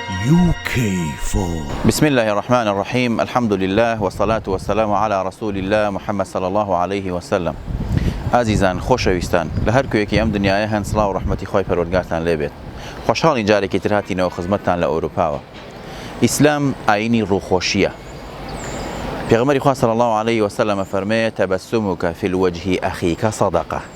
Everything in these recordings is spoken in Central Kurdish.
UK for. بسم اللە الرحمن الرحیم الحمد للە والصلاة والسلام علی رسول اللە محمد صلی اللە علیە وسلم ئازیزان خۆشەویستان لە هەر کوێیەکی ئەم دنیایە هەن سڵاو و ڕەحمەتی خوای پەروەردگارتان لێ بێت خۆشحاڵین جارێکی تر هاتینەوە خزمەتتان لە ئەوروپاوە ئیسلام ئاینی ڕووخۆشیە پێغمبەری خوا صلی اللە علیە وسلم فەرمێ تبسمک فی الوجه اخیک صدقە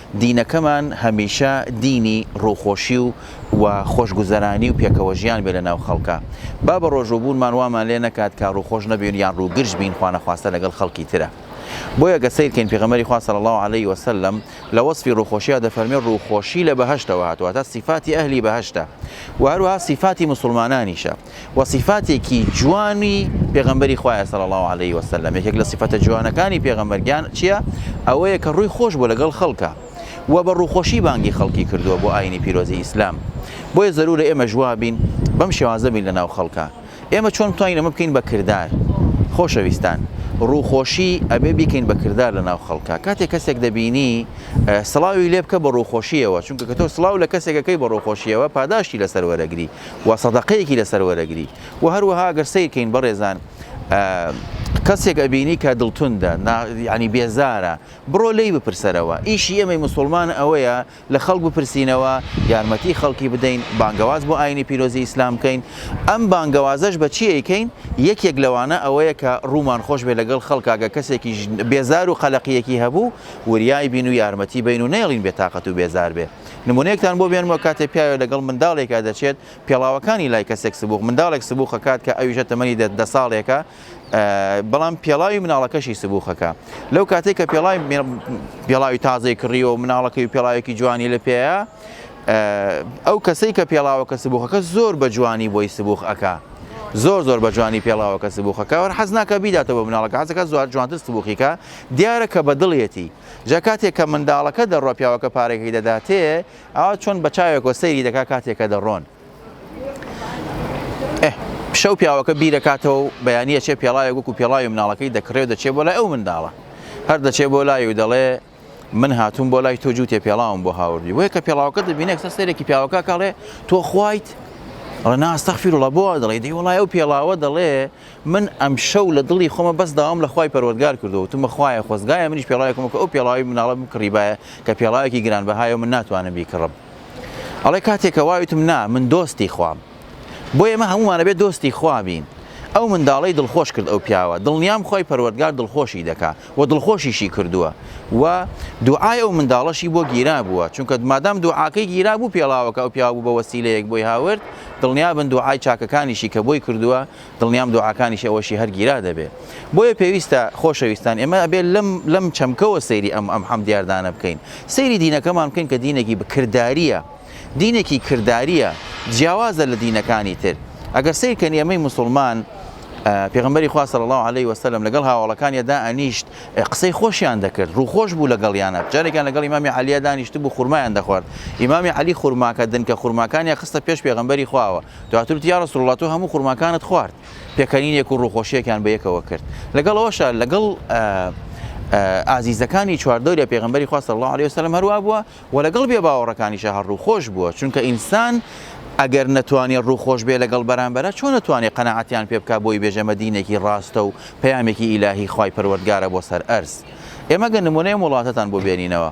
دینەکەمان هەمیشە دینی ڕووخۆشی و و خۆشگوزەرانی و پێکەوەژیان بێ لەناو خەڵکا با بە ڕۆژووبوونمان وامان لێ نەکات کە ڕووخۆش نەبین یان ڕووگرژ بین خوانەخواستە لەگەڵ خەڵکی ترا بۆیە گەر سەیرکەین پێغەمبەری خوا صلی اللە علیە وسلم لە وەسفی ڕووخۆشیا دەفەرموێ ڕووخۆشی لە بەهەشتەوە هاتووە واتە سیفاتی ئەهلی بەهەشتە و هەروەها سیفاتی مسوڵمانانیشە وە سیفاتێکی جوانی پێغەمبەری خوایە صلی اللە علیه و سلم یەکێک لە سیفەتە جوانەکانی پێغەمبەر گیان چییە ئەوەیە کە ڕووی خۆش بۆ لەگەڵ خەڵکە و بە ڕووخۆشی بانگی خەڵکی کردووە بۆ ئاینی پیرۆزی ئیسلام بۆیە زەرورە ئێمە جوابین بەم شێوازە بین لەناو خەڵکە ئێمە چۆن توانین ئەمە بکەین بە کردار خۆشەویستان ڕووخۆشی ئەبێ بیکەین بە کردار لە ناو خەڵکە کاتێک کەسێک دەبینی سڵاوی لێ بکە بە ڕووخۆشیەوە چونکە کە تۆ سلااو لە کەسێکەکەی بە ڕووخۆشیەوە پاداشتی لەسەر وەرەگری و سەدەقەیەکی لەسەر وەرەگری و هەروەها گەر سیرکەین بەڕێزان کەسێک ئەبینی کە دڵتوندە ینی بێزارە بڕۆ لی بپرسەرەوە ئیشی ئێمەی مسلمان ئەوەیە لە خەڵک بپرسینەوە یارمەتی خەڵکی بدەین بانگەواز بۆ ئاینی پیرۆزی ئیسلام بکەین ئەم بانگەوازەش بە چیەکەین یەکێک لەوانە ئەوەیە کە ڕوومان خۆش بێ لەگەڵ خەڵکاگە کەسێکی بێزار و قەلەقیەکی هەبوو وریای بین و یارمەتی بین و نێڵین بێتاقەت و بێزار بێ نمونەیەکتان بۆ بێنمەوە کاتێ پیاوێ لەگەڵ منداڵێکا دەچێت پێڵاوەکانی لای کەسێک سبوخ منداڵێک سبوخەکات کە ئەویشە تەمەنی دە دە ساڵێکە بەڵام پێڵاوی مناڵەکەشی سبوخەکە لەو کاتێک کە پێڵای پێڵاوی تازەی کڕیەوە و مناڵەکەی پێڵاوێکی جوانی لە پێەیە ئەو کەسەی کە پێڵاوەکە سبوخەکە زۆر بە جوانی بۆی سبوخ ئەکا زۆر زۆر بە جوانی پێڵاوەکە سبوخەکە وەر حەز ناکە بیداتەوە مناڵەکە حەزەکە زوار جوانتر سبوخیکە دیارە کە بە دڵێتی جا کاتێک کە منداڵەکە دەڕوا پیاوەکە پارەکەی دەداتێ ئاوا چۆن بە چاوێکەوە سەیری دەکا کاتێکە دەڕۆن شەو پیاوەکە بیرەکاتەوە و بەیانە چێ پێڵاوێک وەکو پێڵاوی مناڵەکەی دەکڕێ و دەچێ بۆ لای ئەو منداڵە هەر دەچێ بۆ لای و دەڵێ من هاتوون بۆ لای تۆ جووتێ پێڵاوم بۆ هاوردی وەیە کە پێڵاوەکە دەبینێک سە سەرێکی پیاوەکە کاڵێ تۆ خوایت ڕناستەخفیرڵە بۆ دەڵێ دی وڵای ئەو پێڵاوە دەڵێ من ئەمشەو لە دڵی خۆمە بەس داوام لە خوای پەروەردگار کردووە وتومە خوایە خۆزگایە منیش پێڵاوێکم وەکو ئەو پێڵاوی مناڵە بمکڕیبایە کە پێڵاوێکی گرانبەهایە و من ناتوانم بیکڕم ئەڵێ کاتێ کە وای وتم نا من دۆستی خوام بۆ ئێمە هەموومان ئەبێ دۆستی خوا بین ئەو منداڵەی دڵخۆش کرد ئەو پیاوە دڵنیام خوای پەروەردگار دڵخۆشی دەکا و دڵخۆشیشی کردووە و دوعای ئەو منداڵەشی بۆ گیرا بووە چونکە مادام دوعاکەی گیرا بوو پێڵاوەکە ئەو پیاو بوو بە وەسیلەیەک بۆی هاورد دڵنیابن دوعای چاکەکانیشی کە بۆی کردووە دڵنیام دوعاکانیشی ئەوەشی هەر گیرا دەبێ بۆیە پێویستە خۆشەویستان ئێمە ئەبێ لەم لەم چەمکەوە سەیری ئەم ئەم حەم دیاردانە بکەین سەیری دینەکەمان بکەین کە دینێکی بکردداریە دینێکی کردداریە جیاوازە لە دینەکانی تر ئەگەر سیرکەن ئێمەی مسلمان پێغمبەری خواست لە الله عليه وسلم لەگەڵ هاوڵەکانیدا ئەنیشت قسەی خۆشیان دەکرد ڕووخۆش بوو لەگەڵیانە جارێکیان لەگەڵ ئمامی علیە دانیشت بوو خورمایان دەخوارد ئمامی علی خورماکە دنکە خورماکانیان خستە پێش پێغمبەری خواوە دواتر وتی، یا رسولاللە تۆ هەموو خورماکانت خوارد، پێکەنینێک و ڕووخۆشییەکیان بەیەکەوە کرد، لەگەڵ ئەوەشا لەگەڵ ئازیزەکانی چواردەوری پێغەمبەری خوا صلی اللە علیە وسلم هەروا بووە، وە لەگەڵ بێ باوەڕەکانیشا هەر ڕووخۆش بووە، چونکە ئینسان ئەگەر نەتوانێ ڕووخۆش بێ لەگەڵ بەرامبەرە چۆن ئەتوانێ قەناعەتیان پێ بکا بۆی بێژێ مە دینێکی ڕاستە و پەیامێکی ئیلاهی خوای پەروەردگارە بۆ سەر ئەرز ئێمە گەر نمونەی ئەم وڵاتەتان بۆ بێنینەوە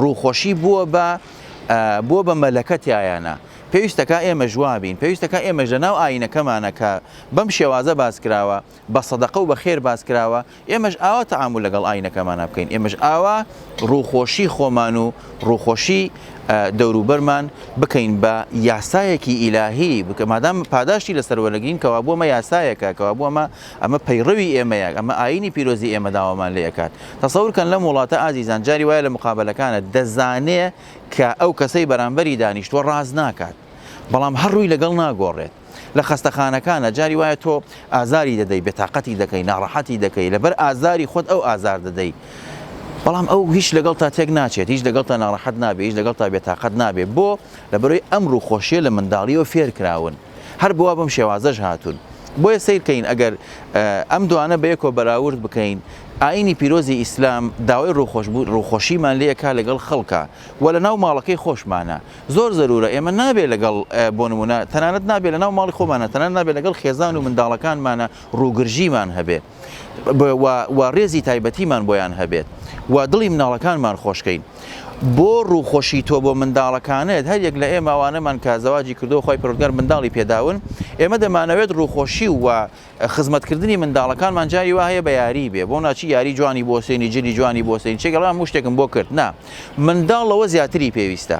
ڕووخۆشی بووە بە بووە بە مەلەکە تایانە. پێویستەکا ئێمەش وا بین. پێویستەکا ئێمەش لە ناو ئایینەکەمانا کە بەم شێوازە باس کراوە، بە سەدەقە و بە خێر باس کراوە، ئێمەش ئاوا تەعامول لەگەڵ ئایینەکەمانا بکەین. ئێمەش ئاوا ڕووخۆشی خۆمان و ڕووخۆشی دەوروبەرمان بکەین بە یاسایەکی ئیلاهی، مادام پاداشتی لەسەر وەرەگرین کەوابوو ئەمە یاسایەکە، کەوابوو ئەمە ئەمە پەیڕەوی ئێمەیە، ئەمە ئایینی پیرۆزی ئێمە داوامان لێ ئەکات. تەسەور کەن لەم وڵاتە ئازیزان جاری وایە لە مقابەلەکانت دەزانێ کە ئەو کەسەی بەرامبەری دانیشتووە ڕاست ناکات بەڵام هەر ڕووی لەگەڵ ناگۆڕێت. لە خەستەخانەکانا جاری وایە تۆ ئازاری دەدەی، بێتاقەتی دەکەی، ناڕەحەتی دەکەی، لەبەر ئازاری خۆت ئەو ئازار دەدەی بەڵام ئەو هیچ لەگەڵتا تێک ناچێت، هیچ لەگەڵتا ناڕەحەت نابێت، هیچ لەگەڵتا بێتاقەت نابێت. بۆ؟ لەبەرەوەی ئەم ڕووخۆشییە لە منداڵییەوە فێر کراون. هەر بوا بەم شێوازەش هاتوون. بۆیە سەیر کەین ئەگەر ئەم دوانە بەیەکەوە بەراورد بکەین، ئایینی پیرۆزی ئیسلام داوای ڕووخۆشبوو ڕووخۆشیمان لێ ئەکا لەگەڵ خەڵکا و لەناو ماڵەکەی خۆشمانا. زۆر زەروورە ئێمە نابێ لەگەڵ بۆ نموونە تەنانەت نابێ لەناو ماڵی خۆمانا تەنانەت نابێ لەگەڵ خێزان و منداڵەکانمانا ڕووگرژیمان هەبێ. و ڕێزی تایبەتیمان بۆیان هەبێت و دڵی مناڵەکانمان خۆشکەین بۆ ڕووخۆشی تۆ بۆ منداڵەکانت هەر یەک لە ئێمە ئەوانەمان کە زەواجی کردو خی پرودگار منداڵی پێداون ئێمە دەمانەوێت ڕووخۆشی و خزمەتکردنی منداڵەکانمان جاری وا هەیە بە یاری بێ بۆ ناچی یاری جوانی بۆ سێنی جلی جوانی بۆ سێن چێگەڵام مشتێکم بۆ کرد نا منداڵەوە زیاتری پێویستە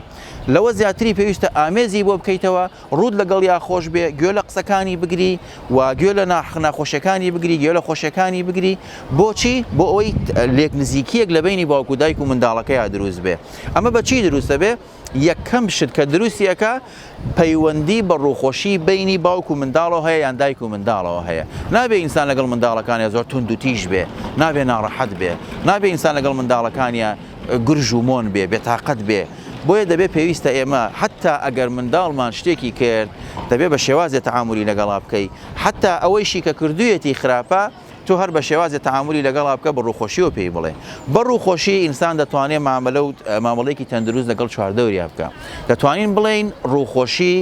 لەوە زیاتری پێویستە ئامێزی بۆ بکەیتەوە ڕووت لەگەڵیا خۆش بێ گوێ لە قسەکانی بگری و گوێ لە ناخناخۆشیەکانی بگری گوێ لە خۆشیەکانی بگری بۆچی بۆ ئەوەی لێک نزیکیەک لە بینی باوکو دایک و منداڵەکەیا دروست بێ ئەمە بە چی دروستە بێ یەکەم شت کە دروستی ئەکا پەیوەندی بە ڕوخۆشی بینی باوک و منداڵەوە هەیە یان دایک و منداڵەوە هەیە نابێ ئینسان لەگەڵ منداڵەکانە زۆر تونند و تیژ بێ نابێ ناڕەحەت بێ نابێ ئینسان لەگەڵ منداڵەکانە گرژ و مۆن بێ بێتاقەت بێ. بۆیە دەبێت پێویستە ئێمە حەتا ئەگەر منداڵمان شتێکی کرد دەبێت بە شێوازێ تەعامولی لەگەڵا بکەی حەتا ئەوەیشی کە کردویەتی خراپە تۆ هەر بە شێوازێ تەعامولی لەگەڵا بکە بە ڕووخۆشیەوە پێی بڵێ بە ڕووخۆشی ئینسان دەتوانێت مامەلە و مامەڵێکی تەندروست لەگەڵ چواردەوریا بکە دەتوانین بڵین ڕووخۆشی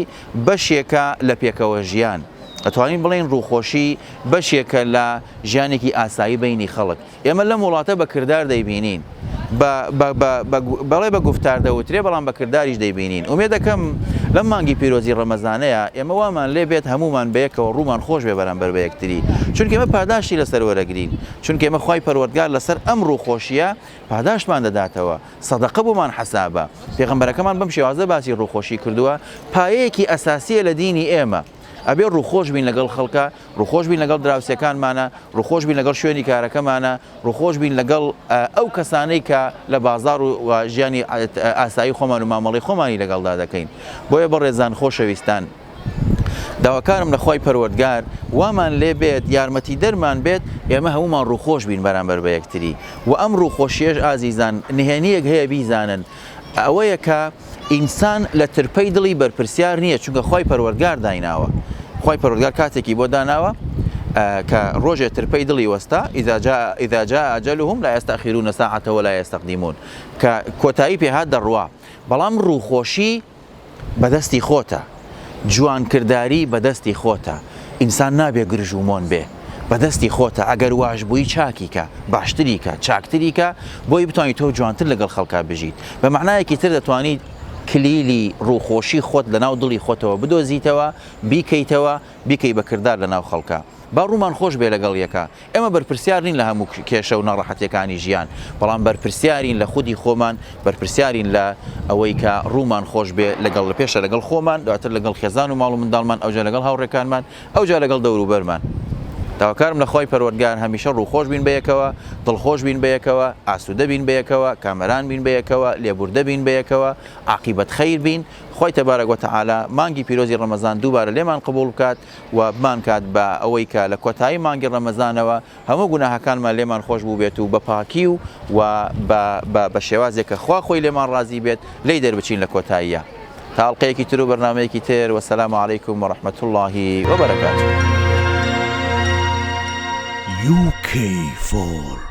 بەشێکە لە پێکەوە ژیان دەتوانین بڵین ڕووخۆشی بەشێکە لە ژیانێکی ئاسایی بینی خەڵک. ئێمە لەم وڵاتە بە کردار دەیبینین، بە بە بە بە بەڵێ بە گوفتار دەوترێ بەڵام بە کرداریش دەیبینین. ئومێدەکەم لەم مانگی پیرۆزی ڕەمەزانەیا ئێمە وامان لێ بێت هەموومان بەیەکەوە ڕوومان خۆش بێ بەرامبەر بە یەکتری، چونکە ئێمە پاداشتی لە سەر وەرەگرین، چونکە ئێمە خوای پەروەردگار لە سەر ئەم ڕووخۆشییە پاداشتمان دەداتەوە، سەدەقە بۆمان حەسابە. پێغەمبەرەکەمان بەم شێوازە باسی ڕووخۆشی کردووە، پایەیەکی ئەساسییە لە دینی ئێمە. ئەبێ ڕووخۆش بین لەگەڵ خەڵکە ڕووخۆش بین لەگەڵ دراوسەکانمانە ڕووخۆش بین لەگەڵ شوێنی کارەکەمانە ڕووخۆش بین لەگەڵ ئەو کەسانەی کە لە بازار و ژیانی ئاسایی خۆمان و مامەڵی خۆمانی لەگەڵدا دەکەین بۆیە بەڕێزان خۆشەویستان. داواکارم لە خی پەروەردگار وامان لێ بێت یارمەتی دەرمان بێت ئێمە هەمومان ڕووخۆش بین بەرامبەر بە یەکتری و ئەم ڕووخۆشیێش ئازیزان نهێنیەک هەیە بیزانن ئەوەیە کە ئینسان لە ترپەی دڵی بەرپرسیار نییە چونکە خی پەروەردگار دایناوە خی پەرۆگار کاتێکی بۆ داناوە کە ڕۆژێ ترپەی دڵی وەستا ئیداجا ئیداجا ئەجلهم لا يستأخرون ساعة ولا يستقدمون کە کۆتایی پێهات دەڕوا بەڵام ڕووخۆشی بەدەستی خۆتە جوان کرداری بەدەستی خۆتە ئینسان نابێ گرژ و مۆن بێ بەدەستی خۆتە ئەگەر واش بووی چاکی کە باشتری کە چاکتری کە بۆی بتانی تۆ جوانتر لەگەڵ خەڵکا بژیت بە مەعنایەکی تر دەتوانیت کلیلی ڕووخۆشی خۆت لە ناو دڵی خۆتەوە بدۆزیتەوە بیکەیتەوە بیکەی بە کردار لە ناو خەڵکا با ڕوومان خۆش بێ لەگەڵ یەکا ئێمە بەرپرسیار نین لە هەموو کێشە و ناڕەحەتیەکانی ژیان، بەڵام بەرپرسیارین لە خودی خۆمان، بەرپرسیارین لە ئەوەی کە ڕوومان خۆش بێ لەگەڵ لە پێشە لەگەڵ خۆمان دواتر لەگەڵ خێزان و ماڵ و منداڵمان ئەوجا لەگەڵ هاوڕێکانمان ئەوجا لەگەڵ دەوروبەرمان. داواکارم لە خوای پەروەردگار هەمیشە ڕووخۆش بین بەیەکەوە، دڵخۆش بین بەیەکەوە، ئاسوودە بین بەیەکەوە، کامەران بین بەیەکەوە، لێبووردە بین بەیەکەوە، عاقیبەت خیر بین، خوای تبارک و تعالی مانگی پیرۆزی ڕەمەزان دووبارە لێمان قبووڵ بکات، و بمانکات بە ئەوەی کە لە کۆتایی مانگی ڕەمەزانەوە هەموو گوناهەکانمان لێمان خۆش بووبێت و بە پاکی و و بە بە بە شێوازێک کە خوا خۆی لێمان ڕازی بێت لێی دەربچین لە کۆتاییە تا ئەڵقەیەکی تر و بەرنامەیەکی تر وەسەلام علیکم و ڕەحمەت اللە و بەرەکاتوو. UK for